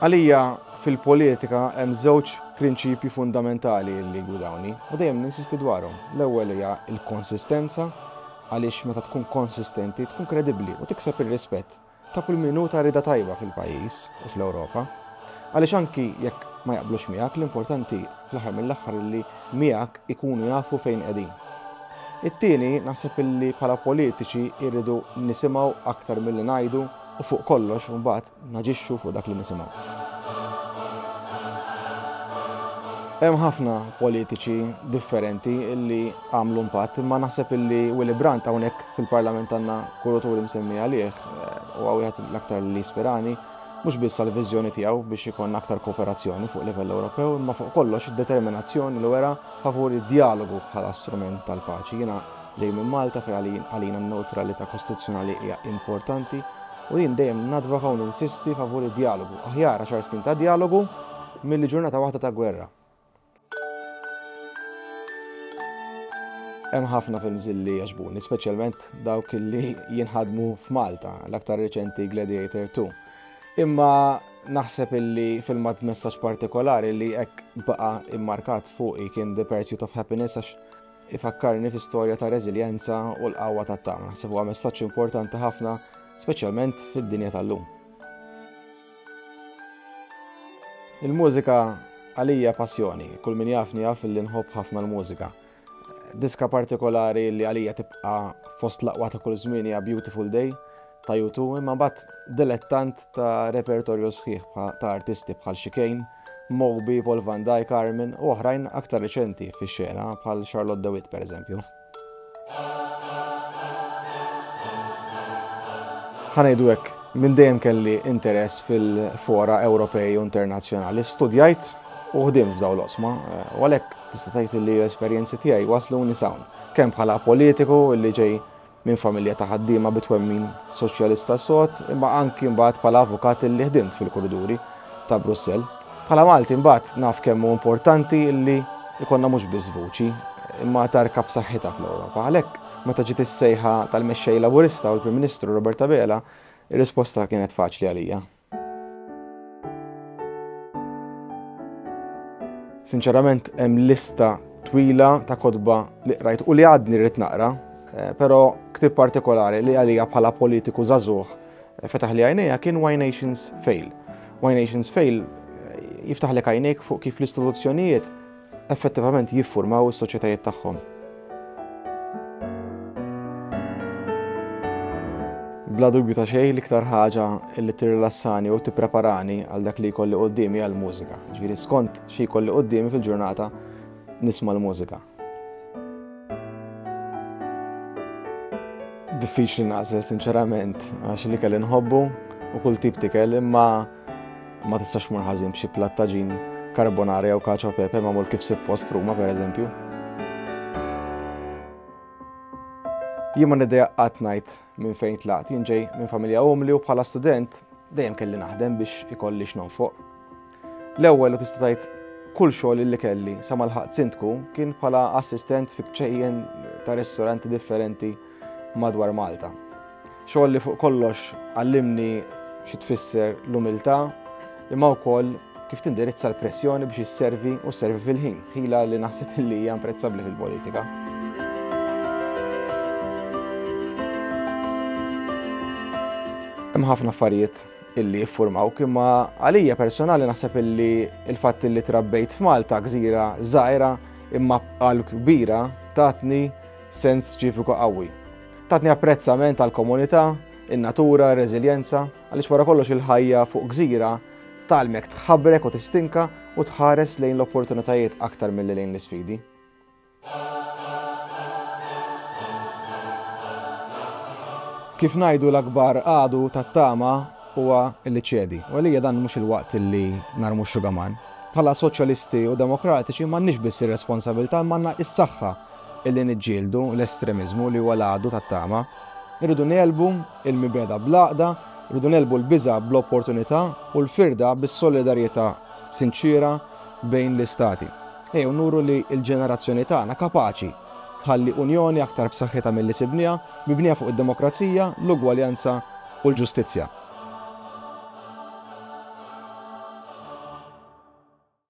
Għalija fil-politika hemm żewġ prinċipji fundamentali li gwidawni u dejjem ninsisti dwarhom. L-ewwel hija l-konsistenza għaliex meta tkun konsistenti tkun kredibbli u tikseb ir-rispett ta' kull min hu ta' rieda tajba fil-pajjiż u fl-Ewropa. Għaliex anki jekk ma jaqblux miegħek, l-importanti fl-aħħar mill-aħħar illi miegħek ikunu jafu fejn qegħdin. It-tieni, naħseb illi bħala politiċi irridu nisimgħu aktar milli ngħidu u fuq kollox imbagħad naġixxu fuq dak li nisimgħu. Hemm ħafna politiċi differenti illi għamlu impatt imma naħseb illi Willy Brandt hawnhekk Fil-Parlament għandna kuraturi msemmi għalih, huwa wieħed l-aktar li jispirani, mhux biss għall-viżjoni tiegħu biex ikollna aktar kooperazzjoni fuq livell Ewropew, imma fuq kollox id-determinazzjoni li wera favur id-djalogu bħala strument tal-paċi. Jiena ġej minn Malta fejn għalina n-newtralità kostituzzjonali hija importanti u jien dejjem nadvoka u ninsisti favur id-djalogu. Aħjar għaxar snin ta' djalogu milli ġurnata waħda ta' gwerra. Hemm ħafna films li jaġbuni, speċjalment dawk li jinħadmu f'Malta, l-aktar reċenti Gladiator 2. Imma naħseb illi filmat messaġġ partikolari li hekk baqa' immarkat fuqi kien The Pursuit of Happiness għax ifakkarni fi storja ta' reżiljenza u l-qawwa tat-tama. Naħseb huwa messaġġ importanti ħafna, speċjalment fid-dinja tal-lum. Il-mużika għalija passjoni, kull min jafni jaf li nħobb ħafna l-mużika. Diska partikolari li għalija tibqa' fost l-aqwa ta' kull żmien hija Beautiful Day ta' U2, imma mbagħad dilettant ta' repertorju sħiħ ta' artisti bħal Chicane, Moby, Paul van Dyk, Armin u oħrajn aktar riċenti fix-xena bħal Charlotte de Witte pereżempju. Ħa ngħidu hekk, minn dejjem kelli interess fil-fora Ewropej u internazzjonali. Studjajt u ħdimt f'dawn l-oqsma, u għalhekk tista' tgħid li l-esperjenzi tiegħi wasluni sawn, kemm bħala politiku li ġej minn familja ta' ħaddiema bi twemmin soċjalista sod, imma anki mbagħad bħala avukat li ħdimt fil-kuriduri ta' Brussell. Bħala Malti mbagħad naf kemm hu importanti li jkollna mhux biss vuċi, imma tarka b'saħħitha fl-Ewropa. Għalhekk, meta ġiet is-sejħa tal-Mexxej Laburista u l-Prim Ministru Robert Abela, ir-risposta kienet faċli għalija. Sinċerament hemm lista twila ta' kotba li qrajt u li għadni rrid naqra, però ktieb partikolari li għalija bħala politiku żagħżugħ Fetaħli għajnejha kien Why Nations Fail. Why Nations Fail jiftaħlek għajnejk fuq kif l-istituzzjonijiet effettivament jiffurmaw is-soċjetajiet tagħhom. Bla dubju ta' xejn l-iktar ħaġa li tirrilassani u tippreparani għal dak li jkolli quddiemi għall-mużika. Ġifieri skont xi jkolli quddiemi fil-ġurnata nisma' l-mużika. Diffiċli naqsel sinċerament għax li kelli nħobbu u kull tip tikel imma ma tistax mur ħażin b'xi plattaġin karbonara jew kaċo pepe ma' mur kif suppost fruma per eżempju. Jien ma niddeja qatt ngħid Minn fejn tlaqt? Jien ġej minn familja umli u bħala student dejjem kelli naħdem biex ikolli x'nonfoq. L-ewwel u tista' tgħid kull xogħol illi kelli sa ma lħaqt sindku kien bħala assistent fi kċejjen ta' ristoranti differenti madwar Malta. Xogħol li fuq kollox għallimni xi tfisser l-umiltà imma wkoll kif tindirizza l-pressjoni biex isservi u sservi fil-ħin, ħila li naħseb li hija imprezzabbli fil-politika. Hemm ħafna affarijiet illi jiffurmaw kimma għalija personali naħseb illi il-fatt illi trabbejt f'Malta gżira żgħira imma għal kbira tatni sens ċiviku qawwi. Tatni apprezzament għal komunità, in-natura, r-reżiljenza. Għaliex wara kollox il-ħajja fuq gżira tgħallmek tħabrek u tistinka u tħares lejn l-opportunitajiet aktar milli lejn l-isfidi. Kif ngħidu l-akbar għadu tat-tama huwa li ċedi. U għalija dan mhux il-waqt li narmu x-xugaman. Bħala soċjalisti u demokratiċi m'għandniex biss ir-responsabilità imma għandna s-saħħa Billi niġġieldu l-estremiżmu li huwa l-għadu tat-tama, irridu negħlbu l-mibegħda bl-għaqda, irridu negħlbu l-biża' bl-opportunità u l-firda bis-solidarjetà sinċiera bejn l-Istati. Ejjew nuru li l-ġenerazzjoni tagħna kapaċi tħalli Unjoni aktar b'saħħitha milli sibniha, mibnija fuq id-demokrazija, l-ugwaljanza u l-ġustizzja.